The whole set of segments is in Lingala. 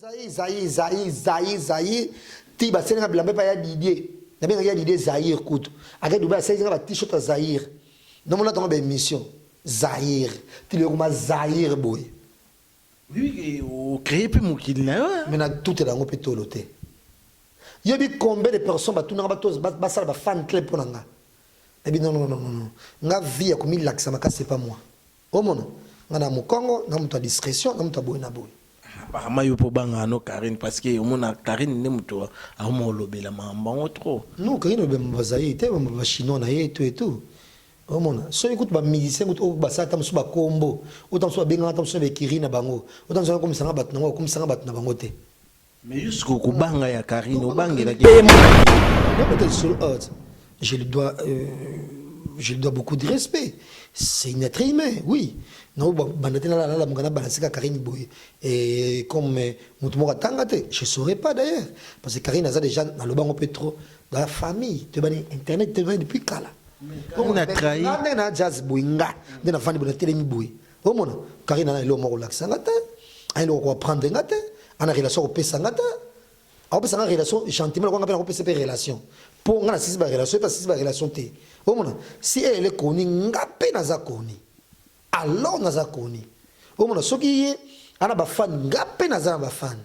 Zaï, Zaï, Zaï, Zaï, Zaï. Ti basali nga bilamba epai ya Didier. Nabengaki ya Didier Zaïre kutu. Ake Dubai asalisi nga ba t-shirt ya Zaïre. Namonaka yango ba émission. Zaïre. Ti lelo ekoma Zaïre boye. Oui, ocree mpe mokili na yo. Mais na tutela yango mpe tolo te. Yebi combien de personnes batunaka bato basala ba fan club mpo na nga. Nabi non, non, non, non. Nga vie ya komilakisa makasi epa moi. Omona nga na mukongo na mutu ya discretion na mutu ya boye na boye. Apparemment yo pe obangaka no Carine parce que omona Carine nde mutu akoma kolobela makambo yango trop. Non Carine alobela makambo ya Zaïre te, makambo ya ba chinois na ye et tout et tout. Omona soki kutu ba musiciens kutu oyo basala ata mosusu ba kombo oyo ata mosusu babengaka ata mosusu na ba ecuries na bango oyo ata mosusu akomisa nga batu na bango bakomisa nga batu na bango te. Mais jusqu'au kubanga ya Karine obangela ki. Je lui dois euh, je lui dois beaucoup de respect. C'est une être humain, oui. Non, bon, bandate la la la mugana balasika Karine Boye. Et comme euh, mutu moko tanga te, je saurais pas d'ailleurs parce que Karine aza déjà na lobango pe trop dans la famille, te bani internet te bani depuis kala. On a trahi. Nda na jazz boye nga, nda na fani boye na telemi boye. omona karine ana eloko moko kolakisa nga te ana eloko koaprendre nga te ana relation kopesa nga te akopesa nga relation gentiment lokwanga mpe nakopesa mpe relation mpo nga nasisi barelation mpe asisi barelation te omona si eyele koni nga mpe naza koni alors naza koni omona soki ye ana bafane nga mpe naza na bafane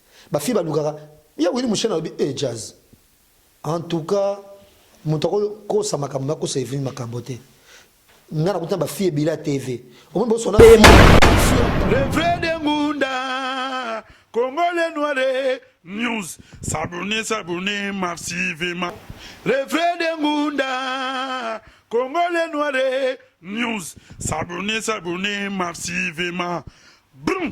Ba filles balukaka ya Willy Mushena alobi eh jazz. En tout cas moto ako kosa makambo na kosa Evelyne makambo te. Nga nakuta ba filles bila TV. Omoni bo sona Le vrai de Ngunda Congolais noire news s'abonner s'abonner massivement Le vrai de Ngunda Congolais noire news s'abonner s'abonner massivement Brum.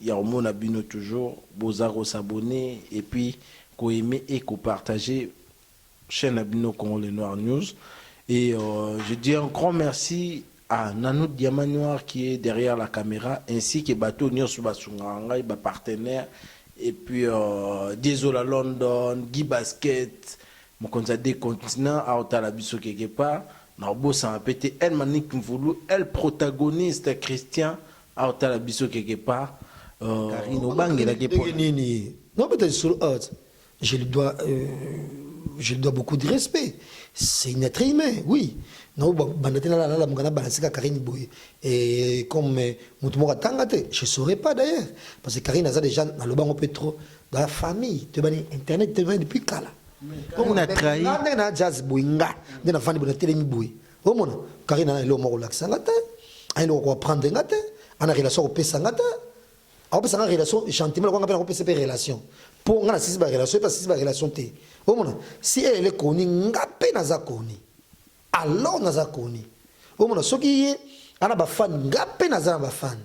ya komona bino toujours boza ko s'abonne et puis ko aime et ko partager chaine na bino Congo le noir news et je dis un grand merci à Nanou Diamant Noir qui est derrière la camera ainsi que batu oyo nionso ba sungaka ngai ba partenaires et puis Diezola London, Guy Basket, mokonzi ya deux continents azo tala biso quelque part nako bosana pe te El Manick Mvulu, El Protagoniste Christian Awa tala biso quelque part Carine obangelaki ye pona nini? Nazo beta lisolo awa tse je lui dois je lui dois beaucoup de respect c'est une etre humain oui nazo banda te nala lamuka na balancer kaka Carine boye comme mutu moko atanga te je saurais pas d'ailleurs parce que Carine aza dejà naloba ngo pe trop dans la famille toyebani internet toyebani depuis kala Carine a trahi nga ndenge na jazz boye nga nde navandi boye natelemi boye. omona karine ana eloko moko olakisa nga te ana eloko koaprendre nga te ana relation akopesa nga te akopesa nga relation gentiment lokwanga mpe nakopesa mpe relation mpo nga nasisi barelation mpe asisi barelation te omona si elele koni nga mpe naza koni alors naza koni omona soki ye ana bafani nga mpe naza na bafani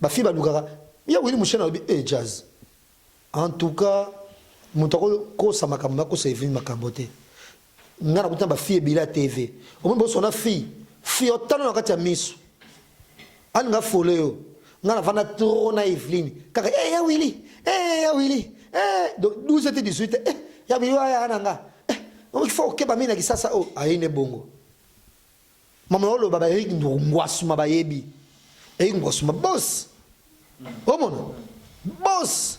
Ba filles balukaka ya Willy Mushena alobi eh Jazz. En tout cas moto ako kosa makambo na kosa Evelyne makambo te. Nga nakuti na ba filles ebele ya TV. Omoni boso na fille, fille otala na kati ya misu. Alinga fole yo. Nga na vanda trop na Evelyne. Kaka eh ya Willy, eh ya Willy. Eh donc 12 et 18 eh ya Willy wa ya na nga. Eh, il faut okeba mimi na kisasa oh ayine bongo. Mama yo loba ba Eric Nduru ngwasuma bayebi. Eric ngwasuma boss. Omona? Boss.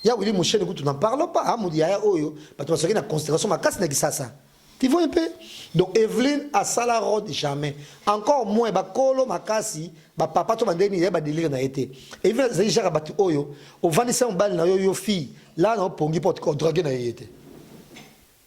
Ya Willy Musheni kutu n'en parlons pas. Ah mudi yaya oyo bato basaki na constellation makasi na Kisasa. Tu vois un peu? Donc Evelyne asala road jamais. Encore moins bakolo makasi ba papa to bandeni ya ba délire na été. Evelyne zali jaka batu oyo ovandisa mobali na yo yo fille. Là na opongi porte ko drague na yete.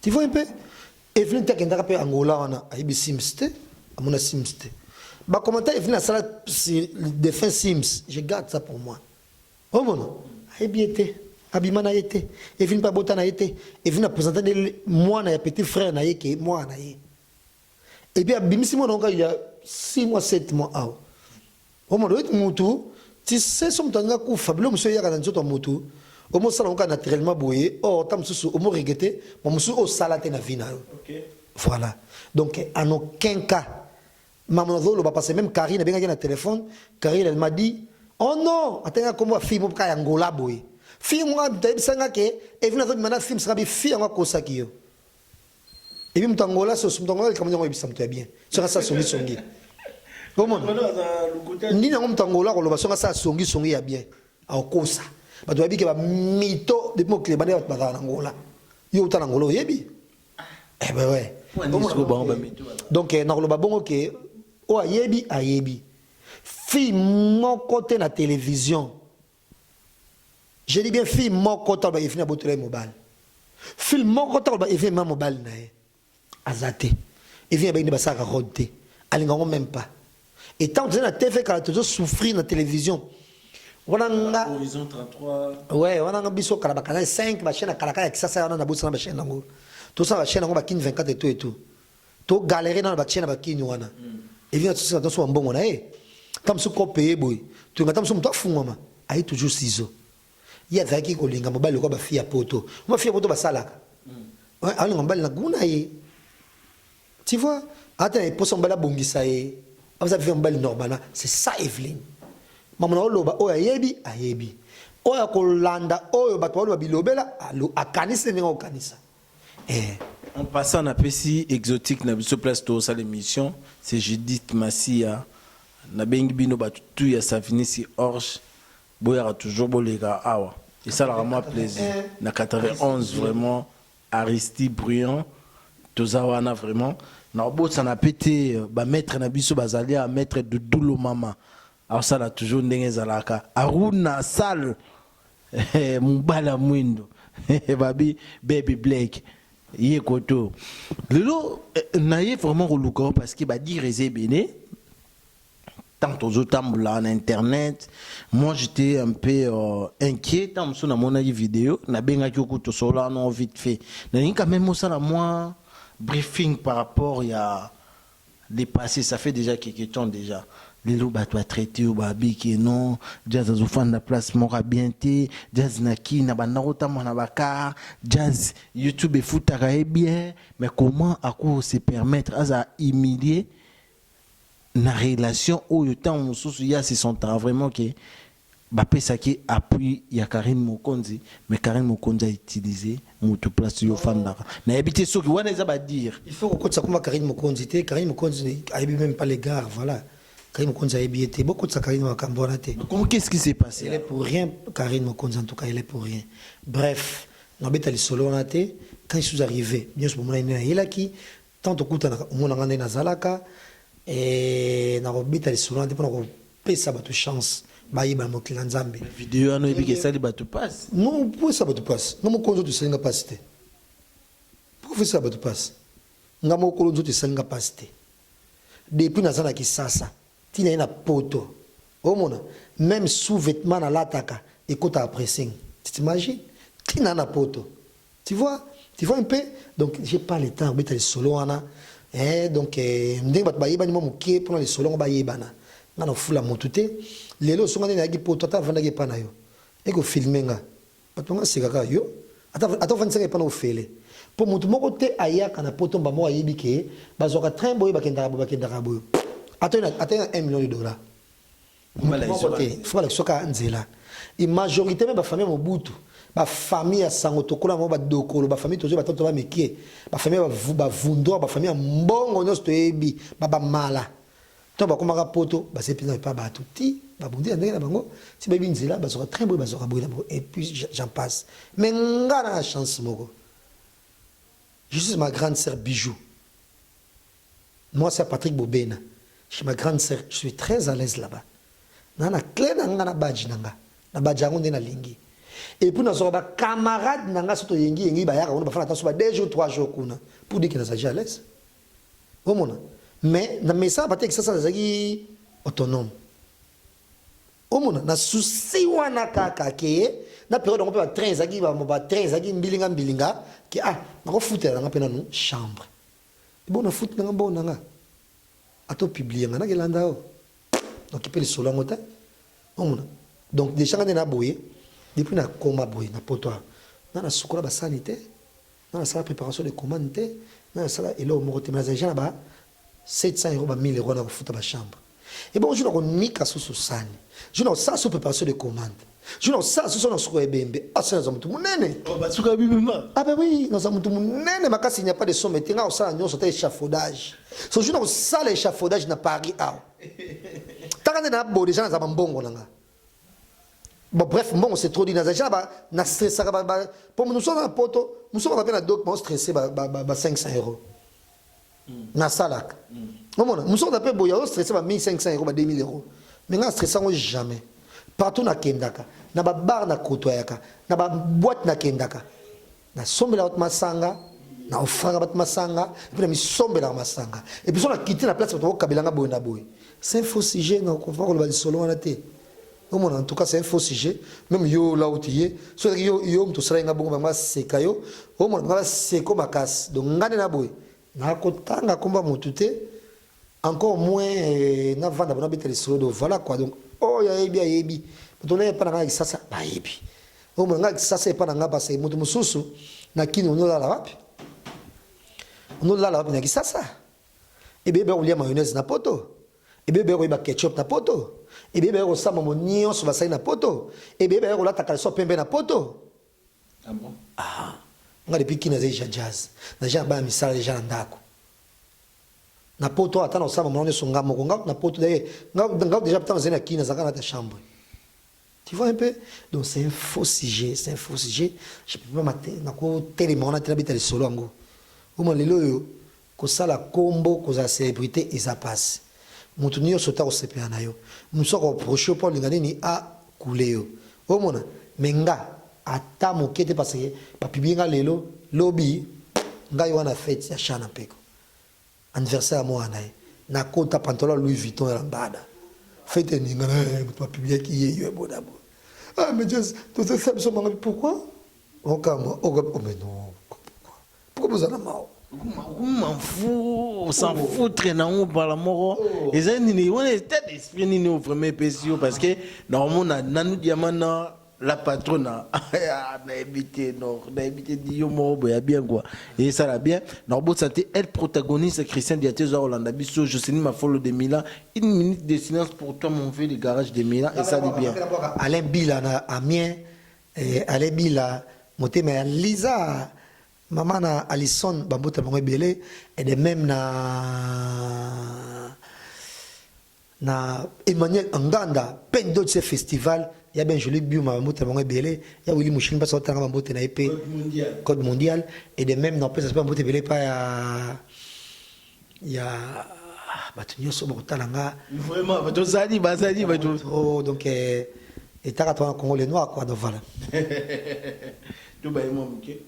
Tu vois un peu Evelyne te akendaka mpe Angola wana ayebi Sims te amona Sims te ba commentaire Evelyne asala sur le défunt Sims je garde ça pour moi omona ayebi ye te abima na ye te Evelyne mpe abota na ye te Evelyne apresente nde mwana ya petit frère na ye ke mwana na ye et puis abimisi mwana oka ya 6 mois 7 mois awa omona oyeti mutu ti seso moto alingi akufa biloko mosusu eyaka na nzoto ya motu omosala oka naturellement boye or ta mosusu omoregete ma mosusu osala te na vie na yo voilà donc en aucun cas mamu nazoloba parce même carine abengaki na téléphone carine elle m'a dit oh non atanga nkombo ya fille moko kaka ya ngola boye fille moko ayebisanga ke evine azobima na fille mosaka bi fille yango akosaki yo Et puis Mutangola, ce Mutangola, comme on dit, ça me fait bien. Ça, ça, songi, songi. Comment Ni na Mutangola, on le voit, ça, songi, songi, ya bien. Au kosa. Bah, tu vas dire que bah, mito, depuis mon clébane, bah, bah, Angola. Yo, t'as Angola, au yebi. Eh ben ouais. Donc, eh, na koloba bongo ke, o ayebi, ayebi. Fille moko te na télévision. Je dis bien fille moko taloba Evine abotola ye mobali. Fille moko taloba Evine ma mobali na ye. Aza te. Evine abenge basalaka road te. Alinga ngo même pas. Et tant tozali na TV kala tozo souffrir na télévision. Wana nga Horizon 33. Ouais, wana nga biso kala ba canal 5 ba chaîne kala kala kisasa wana na bosana ba chaîne yango. Tosala ba chaîne yango ba kin 24 et tout et tout. To galere na ba chien na ba kin wana. Evi na tsusi na tonso wa mbongo na ye. Ta musu ko paye boye. To ngata musu mutu afungwama. Aye toujours sizo. Ye azalaki ko linga mobali lokola ba fille ya poto. Ba fille ya poto ba salaka. Azo linga mobali na gout na ye. Tu vois? Aza te na posa mobali a bongisa ye. Aza vivre mobali normalement. C'est ça Evelyne. Mamu na oloba oyo ayebi, ayebi. Oyo ako landa oyo batu ba loba bilobela, akanisi ndenge oko kanisa. Eh en passant na pesi exotique na biso place to sala emission c'est Judith Masiya na bengi bino batu tout ya Savinisi Orge boyaka toujours boleka awa esalaka mwa plaisir na 91 vraiment Aristie Briand toza wana vraiment. Na bosana pe te ba maitre na biso bazali awa maitre Doudou Lomama Azo sala toujours ndenge ezalaka Aruna sale eh, mobali ya mwindo babi baby Blake ye koto lelo eh, na ye vraiment koluka yo parce que ba dire eza ebele tant tozo tambola na internet moi j'étais un peu euh, inquiet tant mosusu namonaki video nabengaki yo kutu tosololana vite fait nalingi quand même osala mwa briefing par rapport ya le passe ça fait dejà quelque temps dejà lelo batu ba traite yo ba bi que non jazz azo fanda place moko ya bien te jazz na kin abanda ko tambola na ba car jazz youtube efutaka ye bien mais comment ako se permettre azala humilier na relation oyo tango mosusu ye a se sentaka vraiment que Bapesaki appui ya Carine Mokonzi mais Carine Mokonzi a utilise mutu place yo ofandaka. Nayebi te soki wana eza ba dire. Il faut kokotisa kombo ya Carine Mokonzi te, Carine Mokonzi ayebi meme pas le gars, voilà. Carine Mokonzi ayebi ye te, bokotisa Carine na makambo wana te. Comment qu'est ce qui s'est passe? Elle est pour rien Carine Mokonzi en tout cas, elle est pour rien. Bref, nabeta lisolo wana te, quand je suis arrive, nionso bomonaki nde nayelaki, Tant tokutanaka omona nga ndenge nazalaka eeh nako beta lisolo wana te pona ko pesa batu chance ba yeba na mokili na nzambe. Mais video wana oyebi ke esali batu pasi? Non pourquoi esala batu pasi? Nga moko nzoto esali nga pasi te pourquoi faut esala batu pasi? Nga moko nzoto esali nga pasi te depuis naza na kisasa Ti naye na poto ozo mona meme sous vetement na lataka ekotaka pressing tu t'imagines ti nayo na poto tu vois tu vois un peu donc j'ai pas le temps ya kobeta lisolo wana eeh donc ndenge batu bayebani mua mukie pona lisolo yango bayebana nga na fula mutu te lelo osunga nde nayaki poto ata nafandaki epa nayo eko filme nga Bato nga seka ka yo ata ata ofandisaka epa na ofele po mutu moko te ayaka na poto mbamba oyo ayebi ke bazwaka train boye bakendaka boye bakendaka boye ata yo ata na 1 million de dollars mutu moko te faut balakisa ka nzela et majorité même ba famille mobutu ba famille ya sango tokola bango ba dokolo ba famille tozo batata ba mikie ba famille ba vundor ba famille ya mbongo nyonso toyebi ba ba mala Tango bakomaka poto basali penza epa batu ti babundi na ndenge na bango ti bayebi nzela bazwaka train boye bazwaka boye na boye et puis j'en passe mais nga na na chance moko je suis ma grande sœur Bijou mwasi ya Patrick Bobena chez ma grande sœur je suis très à l'aise là-bas na na clé na nga na badge na nga na badge yango nde nalingi et puis nazwaka ba camarade na nga soki toyengi yengi bayaka kuna bafana ata so ba 2 jours 3 jours kuna pour dire que nazali à l'aise Bomona? Mais na mesa ba texte sasa ezaki autonome. Omona na souci wana kaka ke na periode yango mpe ba train ezaki ba ba train ezaki mbilinga mbilinga ke ah nakofutela nanga mpe nanu chambre ebo na futi nanga mbongo nanga ato publie nga nakelanda o donc mpe lisolo yango te omona donc deja nga nde na boye depuis nakoma boye na poto awa nga nasukola basani te Nga na sala preparation de commande te, nga na sala eloko moko te mais nazali dejà na ba 700 euros, ba 1000 euros wana ya ko futa ba chambres. Ebongo jour na ko nika susu sani, jour na ko sala susu preparation de commande, jour na ko sala susu na suka ebembe, ah ce naza mutu munene! Oh ba suka ebembe ma? Ah ben oui, naza mutu munene makasi, il n'y a pas de somme te, nga na ko sala nionso ata echafaudage. So jour na ko sala echafaudage na Paris awa, taka nde na bo dejà naza ba mbongo na nga. Bon, bref, mbongo c'est trop dit. Naza déjà ba na stressaka ba ba pour nous sommes à poto, nous sommes na doc ba stressé ba ba ba 500 euros. Hmm. Na salak. Hmm. Omona, nous sommes d'après boya o stressé ba 1500 euros ba 2000 euros. Mais na stressé ngo jamais. Partout na kendaka, na ba bar na kotoyaka, na ba boîte na kendaka. Nasombelaka bato masanga, na ofraka bato masanga, epuis na misombelaka masanga. Epuis so nakiti na place bato bakokabela nga boye na boye. C'est un faux sujet, nakofa koloba lisolo wana te. omona en tout cas c'est un faux sujet même yo là où tu es so yo yo moto osalaki nga bongo bango baseka yo omona bango baseko makasi donc nga nde na boye Na ko tanga kombo ya mutu te encore moins na vanda bona beta lisolo do voilà quoi donc oh ya yebi ya yebi mutu na epa na nga kisasa ba yebi oh mo nga kisasa epa na nga ba se mutu mususu na kini ono la wapi ono la wapi na kisasa ebe ba kulia mayonnaise na poto ebebe yako yeba ketchup na poto ebebe yako sama mo nyonso basali na poto ebebe yako lata kalso pembe na poto Ah bon? Aha. Nga depuis kin naza deja jazz. Na genre bana misala deja na ndako. Na poto ata na osama mwana nyoso nga moko. Nga na poto d'ailleurs nga nga deja tant zena kin naza kana ta chambre. Tu vois un peu? Donc c'est un faux sujet, c'est un faux sujet. Je peux pas mater na ko tele mwana tela beta le solo ango. Oma lelo yo Kosala kombo kozala celebrite eza pasi mutu nioso te akosepela nayo mususu ako approche yo po alinga nini a coule yo omona mais nga ata muke te parce que ba publie nga lelo lobi ngai wana fete ya chana mpeko anniversaire ya muana naye na kota pantalon ya louis vuitton ya lambada fete eningana eh mutu ba publiaki ye yo boda boda ah mais just tozo sala biso manga pourquoi okamwa oka oh mais non pourquoi boza na mawa s'en foutre na yango bala moko oh. eza nini wana etat d'esprit nini oyo vraiment epesi yo parce que na omona nanu diama na la patrona ah, nayebi te no nayebi te diyo moko boye ya bien kua esala bien na kobotisa te elle protagoniste christian diate oza kolanda biso jocelyn mafolo de milan une minute de silence pour toi mon vieux le garage de milan esali bien alain bila na amien Eh ale bila motema ya Liza maman na Alison ba mbota bango ebele et de même na na Emmanuel Anganda peine d'autres ce festival ya bien joli biuma ba mbota bango ebele ya Willy Mushini parce que ba mbota na EP code mondial et de même na pesa ba mbota ebele pa ya ya bato nyonso bakotala nga vraiment bato ozali bazali bato oh, donc eh, etaka twana congo le noir quoi donc voilà tobaye mwa moke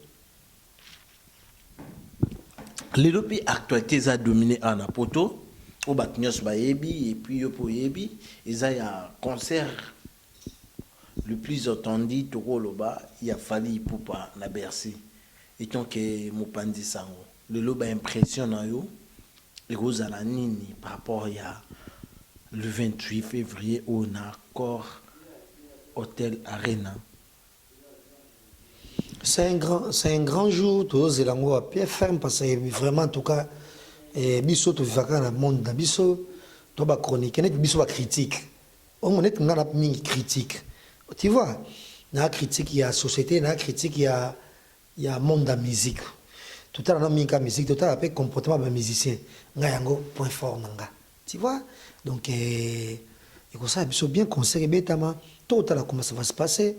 lelo mpe actualité eza domine awa na poto oyo bato nyonso bayebi epuis yo mpe oyebi eza ya concert Le plus attendu toko loba ya Fally Ipupa na Bercy etant que mopanzi sango lelo ba impression na yo eko zala nini par rapport ya le 28 fevrier oyo na Accor Hotel Arena? C'est un grand, c'est un grand jour tozo zela ngo wa PFM parce que vraiment en tout cas eh, biso to vivaka na monde na biso to ba chroniquer neti biso ba critique Bongo neti nga na mingi critique. Tu vois? Na critique ya société, na critique ya ya monde ya musique. Totala na mingi ka musique, totala pe comportement ba musiciens. Nga yango point fort na nga. Tu vois? Donc eh, ekosala biso bien concert ebetama, totala comment ça va se passer.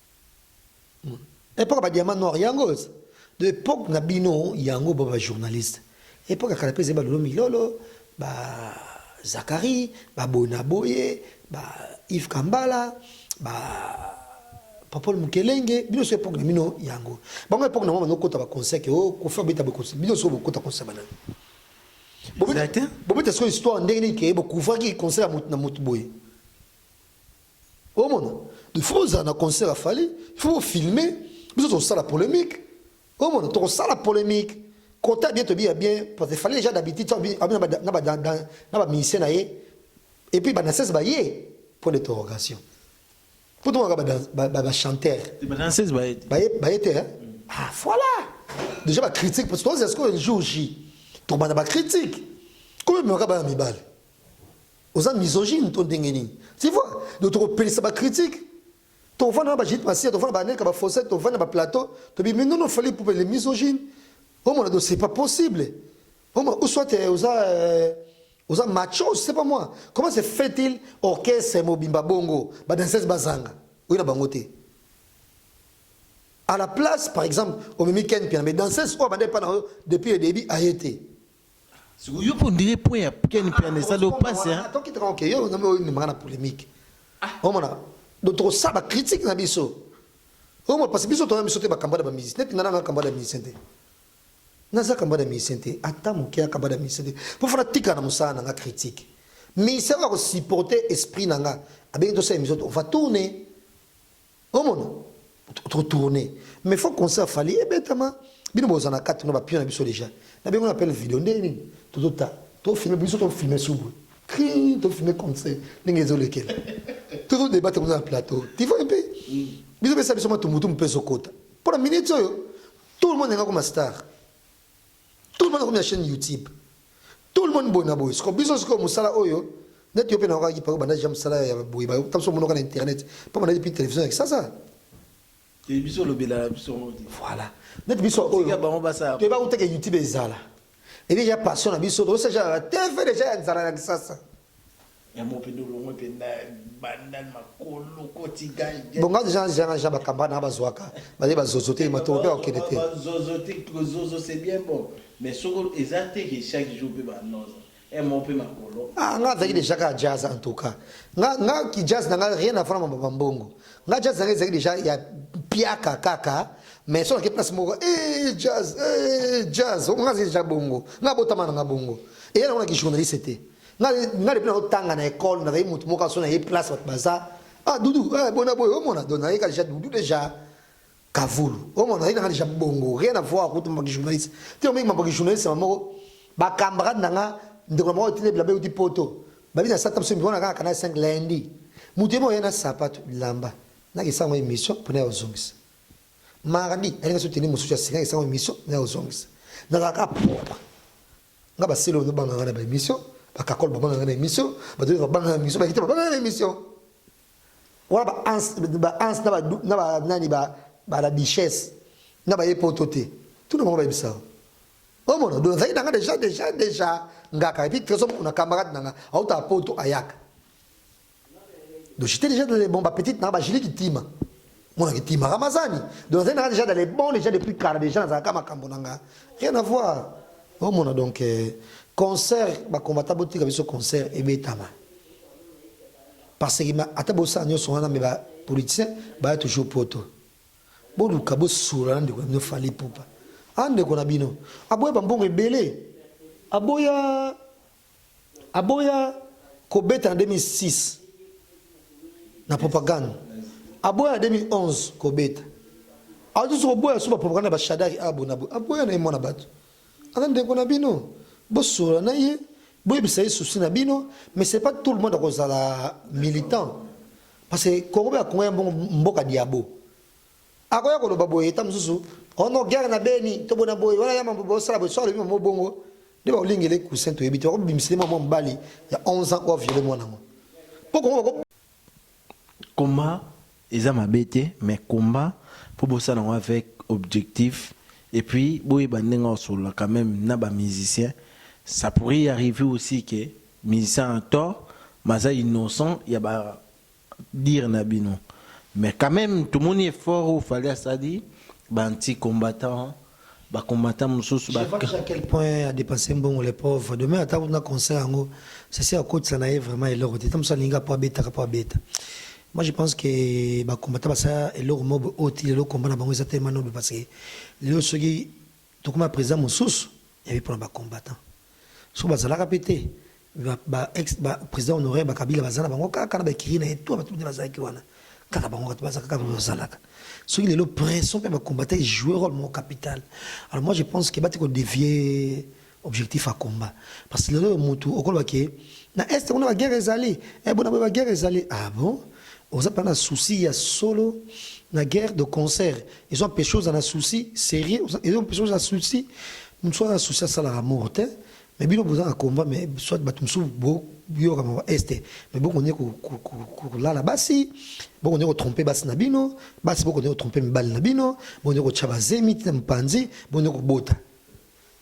Epoque ba diamant noir yango de epoque na bino yango ba journaliste epoque kala pese ba lolo milolo ba Zachary ba bona boye ba Yves Kambala ba Popol Mukelenge bino so epoque na bino yango bango epoque na bango kota ba conseil que oh kofa beta ba conseil bino so bokota conseil bana bobeta bobeta so histoire ndenge nini ke bokuvaki conseil na mutu boye Omona, il faut ozala na concert ya Fally, il faut filmer, biso tosala polemique. Omona, tokosala polemique. Kota bien to bien bien parce que Fally déjà d'habitude ça bien na ba na ba na ba musicien na ye et puis ba danseuse ba ye point d'interrogation. Pour toi ba ba ba chanteur. Ba danseuse ba ye. Ba ye ba ye te. Hein? Ah voilà. Déjà ba critique parce que toi c'est ce que le jour J. Tokobanda ba critique. Koyemaka bana mibale. oza misogyne to ndenge nini tu vois donc tokopelisa ba critique tovanda na bajit masiya tovanda banelka bafosete tovanda ba plateau tobimi nono fali pupa le misogyne omona donc c'est pas possible omona ou soit eh, oza euh, oza macho je sais pas moi comment se fait-il orchestre mobimba bongo badanseuse bazanga oyo na bango te à la place par exemple omemi ken piana mais danseuse oyo abanda epa na yo depuis le début aye te siko yo on dirait point ya Ken Mpiana esali yo pasi hein ah, toki tranke yo ngambe oyo ndimaka na polemique ah. omona donc tokosala ba critique na biso omona parce biso toya biso te bakamba na bamusicien neti nga nanga kamba na musicien te naza kamba na musicien te ata moke ya kamba na musicien te mpo fana tika na mosala nanga critique musicien oyo akosupporte esprit nanga abengi tosala émission on va tourner Omona to tourner mais faut concert Fally ebetama bino boza na kati na ba pion na biso deja na bengo na appel video ndenge nini tozo ta to filmer biso to filmer subu cri to filmer concert ndenge ezo lekela tozo débattre kuna na plateau tu vois un peu biso pesa biso matumbutu mpe ezokota mpo na minute oyo tout le monde enga koma star Tout le monde akomi na chaîne YouTube. Tout le monde boye na boye. Siko biso siko musala oyo neti yo pe na wakaki pako banda jam musala ya boye ba tamso monoka na internet. Pa banda depuis télévision ya kisasa. Et biso lobela la biso modi. Voilà. Neti biso oyo. Ya bango basa. Te ba uteke YouTube ezala. Et déjà passion na biso. Osa jala TV déjà ya nzala ya kisasa. Ya mopepe olongwe penza bandal makolo koti gai. Bon nga dejà na zela na ba camarade nanga bazuaka baye ba zozo te matoko pe akende te. Ba zozo te zozo c'est bien bon mais soki eza te ke chaque jour pe ba noza eh moko pe makolo. Ah nga azalaki dejà kaka jazz en tout cas nga nga ki jazz nanga rien à voir na ba mbongo nga jazz nanga ezalaki dejà ya piaka kaka mais soki nake place moko eh jazz eh jazz nga azalaki dejà bongo nga botama nanga bongo eya nango na ki journaliste te. nga nga depuis na otanga na école na zayi mutu moko aso na ye place bato baza ah dudu eh bona boye omona donc na yeka déjà dudu déjà kavulu omona na yeka déjà bongo rien à voir kutu maki journaliste te omi maki journaliste moko ba camarade na nga ndeko moko tine bilabe uti poto babi na sata msemi bona kaka kana 5 lundi mutu yemo yena sapato lamba na kisango émission pona ya zongisa mardi alinga so tene mususu ya singa kisango émission na ya zongisa na kaka propre Nga ba silo bazo banga nga na ba emission, ba kakol ba banga nga na emission, ba dole ba banga nga na emission, ba kite ba banga nga na emission. Wana ba ans ba ans na ba na ba nani ba ba la duchesse na ba epoto te. Tout le monde ba bisa. Oh mon donc ça y est nga déjà déjà déjà nga ka et puis très on a camarade nga auta poto ayaka. Donc j'étais déjà dans les bons, petite na ba jili kitima. Mona kitima Ramazani. Donc nazali déjà dans les bons déjà depuis kala déjà nazalaka makambo na nga. Rien à voir. Oh mona donc euh, concert ba combattant botika biso concert ebetama. Parce que ata bosa nyonso wana mais ba politiciens ba toujours poto. Boluka bosula ndeko na bino fali pupa. Ah ndeko na bino. Aboya bambongo ebele. Aboya Aboya kobeta na 2006 na propagande. Aboya na 2011 kobeta. Azo lisusu koboya suba propagande ya ba Shadari Abu na boye. Aboya na ye mwana bato. Aza ndeko na bino. Bosolola na ye. Boyebisa ye souci na bino. Mais c'est pas tout le monde akozala militant. Parce que Congo pe ya Congo ya mbongo mboka diabo. Akoya koloba boye tango mosusu, oh non guerre na beni to boye na boye, wana ya mambo bosala boye, soki alobi mambo bongo nde bakolingela ye coussin toyebi te, bakobimisela ye mwa mwa mobali ya 11 ans oyo a viole mwana yango po Congo bako. Combat eza mabe te mais combat faut bosala yango avec objectif et puis boyeba ndenge ya kosolola quand meme na ba musiciens ça pourrait y arriver aussi que musicien a tort mais aza innocent ya ba dire na bino mais quand meme tomoni effort oyo Fally asali ba anti combattants ba combattants mususu ba. Je vois dejà à quel point a depenser mbongo le pauvre de même ata akuti na concert yango sese akotisa na ye vraiment eloko te ta mosusu alingi kaka po abeta kaka po abeta moi je pense que ba combattants basala eloko moko oyo ti lelo combat na bango eza tellement noble parce que lelo soki Tokoma president mosusu ya vie pona ba combattants soki bazalaka pe te ba ex ba president honoraire ba kabila baza na bango kaka na ba ecurie na ye tout batu nde bazalaki wana kaka bango batu baza kaka pe bazalaka soki lelo pression pe ba combattants e jouer role moko capital alors moi je pense que bati ko devier objectif ya combat parce que lelo mutu okoloba ke na est kuna ba guerre ezali eh bona ba guerre ezali ah bon oza pa na souci ya solo na guerre de concert ezo empeshe oza na souci serieux ezo empeshe oza souci mosusu aza souci asalaka amour te mais bino boza na combat mais soit bato mosusu boyoka mawa este mais bokonde kolala basi bokonde kotrompe basi na bino basi bokonde kotrompe mibali na bino bokonde kotya bazemi tina mopanzi bokonde kobota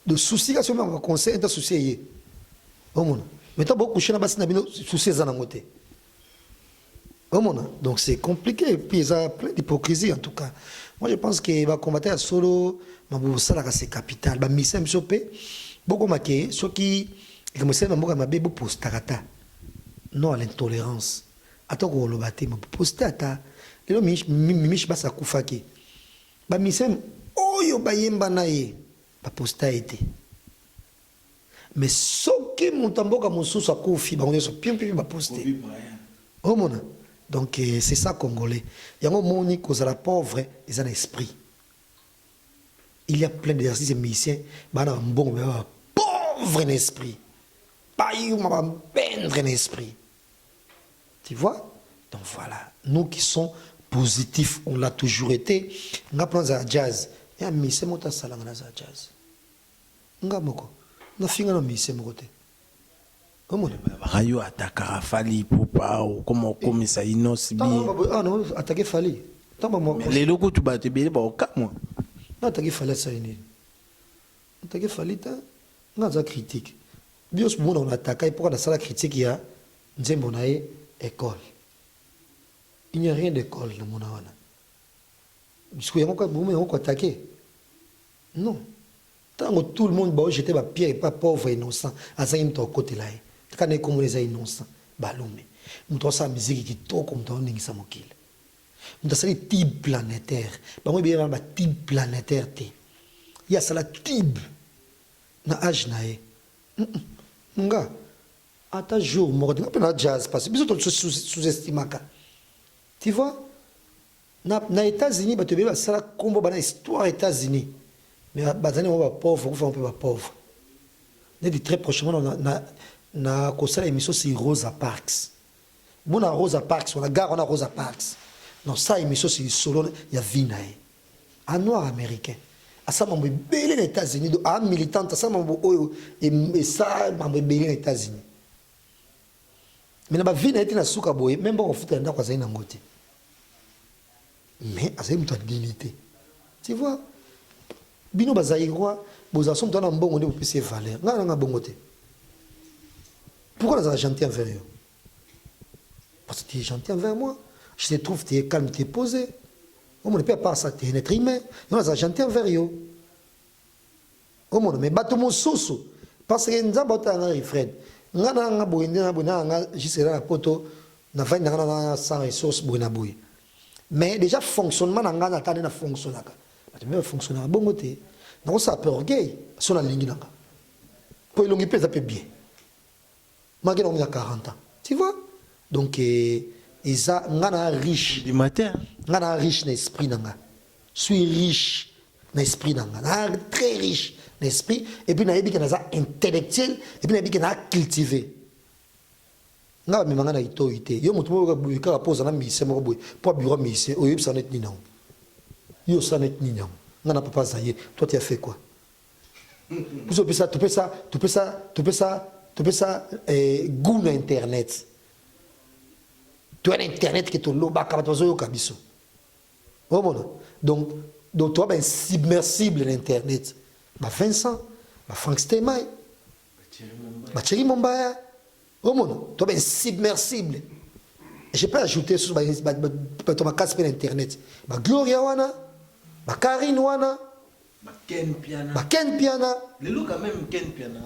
do souci kasi omaka baconseil enta souci eye omona mais ntango bokushe na basi na bino souci eza nango te Omona donc c'est compliqué et puis eza plein d'hypocrisie en tout cas. Moi je pense que ba combattant ya solo mabubu salaka c'est capital ba misa biso pe boko make soki likambo esali na mboka mabe bopostaka ata non à l'intolérance ata kokoloba te maposte ata lelo mimishi basi akufaki bamiseme oyo bayemba na ye baposta ye te Mais soki moto ya mboka mosusu akufi bango nionso piou piou ba poste. Omona? Donc c'est ça congolais. Yango omoni kozala pauvre eza na esprit. Il y a plein des artistes musiciens bana ba mbongo mais ba pauvre na esprit. Ba yuma ba bendre na esprit. Tu vois? Donc voilà, nous qui sommes positifs, on l'a toujours été. Nga pranza jazz. Ya mise moto asalanga na za jazz. Nga moko na finga na musicien moko te omona. Balobaka yo atakaka fally ipupa okoma okomisa innoss'b. Tango wana baboyi awa na attaque fally tango ba mua. Mais lelo kutu batu ebele bako kamua. Na attaque fally asali nini? Na attaque fally te nga naza critique bionso bomona na attaque ye pourquoi na sala critique ya nzembo na ye ecole il n'y a rien d'ecole na mona wana sikoyo yango kaka bomi yango ko attaque? Non tango tout le monde bao jeter ba pierre epa pauvre innocent azangi mutu akokotela ye tika naye kombo naye eza innocent balume mutu asala musique kitoko mutu aoningisa mokili mutu asali tube planetaire bango ebele wana ba tube planetaire te ye asala tube na age naye humm nga ata jour moko te nga pe na jazz parce biso to sous estimaka tu vois Na na etats unis batu ebele basala kombo bana histoire etats unis mais bazali nango ba pauvre bakufa nango mpe ba pauvre neti très prochainement na, na, na kosala emission si rosa parks mona rosa parks wana gare wana rosa parks na kosala emission si lisolo ya vie na ye a noir américain asala mambo ebele na etats unis do a militante asala mambo oyo esala mambo ebele na etats unis mais na ba vie na ye ti na suka boye meme ba kofuta ya ndako azali na yango te mais azali moto ya dignité tu vois bino bazairois bozala so moto wana mbongo nde bopesi ye valeur ngai nanga bongo te pourquoi nazala gentil envers yo parce que tu es gentil envers moi je te trouve tu es calme tu es posé omona mpe apart ça tu es un être humain yo nazala gentil envers yo Omono mais batu mususu parce que nzambe otala nga refrain nga na nga boye nde na boye na nga juste na poto na vandi na nga na sans ressources boye na boye mais déjà fonctionnement na nga na tane na fonctionnaka batu mpe bafonctionnaka bongo te nakosala mpe orgueil so nalingi na nga mpo elongi mpe eza mpe bien Maki na omia 40 ans. Tu vois? Donc eza nga na riche. Ndima te hein. Nga na riche na esprit na nga. Suis riche na esprit na nga. Na très riche na esprit et puis na yebi que naza intellectuel et puis na yebi que na cultiver. Nga ba mema nga na itoyi te. Yo moto moko boye kaka poza na musicien moko boye. Po bureau musicien oyebisa net nini yango. Yo sa net nini yango. Nga na papa Zaïre. Toi tu as fait quoi? biso pesa topesa topesa topesa topesa eh, gout na internet toya na internet ke tolobaka bato bazoyoka biso omona donc donc toya bainsimersible na internet ba vincent ba frank stemai bacheri mombaya omona toya bainsimersible je peux ajouter susu bato makasi mpe na internet bagloria wana bakarine wana Ba Ken Mpiana. Ba Ken Mpiana. Lelo quand même Ken Mpiana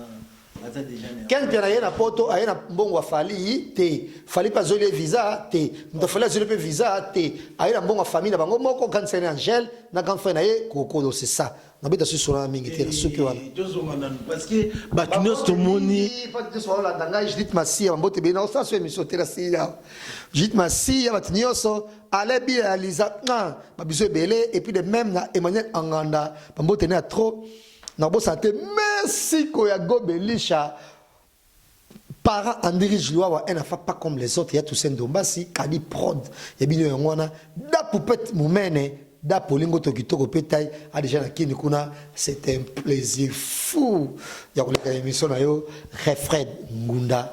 aza déjà na. Ken Mpiana ye na poto aye na mbongo ya Fally te. Fally pa zoli visa te. Muta Fally zoli pe visa te. Aye na mbongo ya famille na bango moko grande sœur Angèle na grand frère na ye Kokolo c'est ça. Na beta susu na mingi te na suki wana. Tozo ngana parce que ba tunos to moni. Pas de soir la danga Judith Masia mbote bena osa so emission te na siya. Judith Masia ba tunos Alain Biya ya Liza ah, ba bisous ebele et puis de même na Emmanuel Anganda ba mbote na trop na bo santé merci ko ya gobelisha parent Andiri Jluawa en afa pas comme les autres ya Toussaint Dombasi Kadi Prod ya bino yango wana da poupette mumene da polingo to kitoko pe tai a déjà na kini kuna c'est un plaisir fou ya koleka émission na yo Refred Ngunda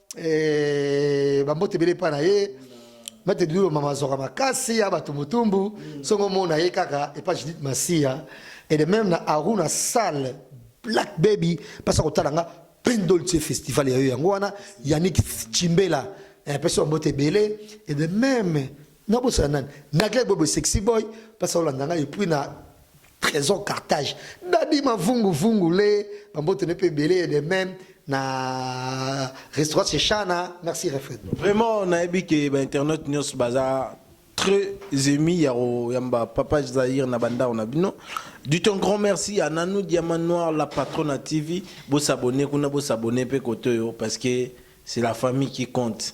Eh, bambote ebele epai na ye mate dulo mama zoka makasi ya bato motumbu songo mona ye kaka epa judith masiya et de même na aruna salle black baby mpasa kotala nga plein dolce festival ya yo yango wana yannick chimbela eh, pesi bambote ebele et de même Na bosana nani? Na Greg Bobo Sexy Boy, parce que olanda ngai puis na Trésor Carthage. Daddy Mavungu Vungu le, ba mbote ne pe beleye de même na restaurant chez Chana. Merci Refred. Vraiment nayebi ke ba internautes nyos baza très émis ya ko yamba papa Zahir na bandao na bino. Du ton grand merci à Nanou Diamant Noir la patronne à TV. Bo s'abonner kuna bo s'abonner pe kotoyo parce que c'est la famille qui compte.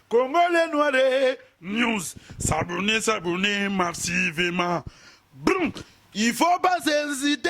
Congolais noire news s'abonner s'abonner massivement Brum! il faut pas hesiter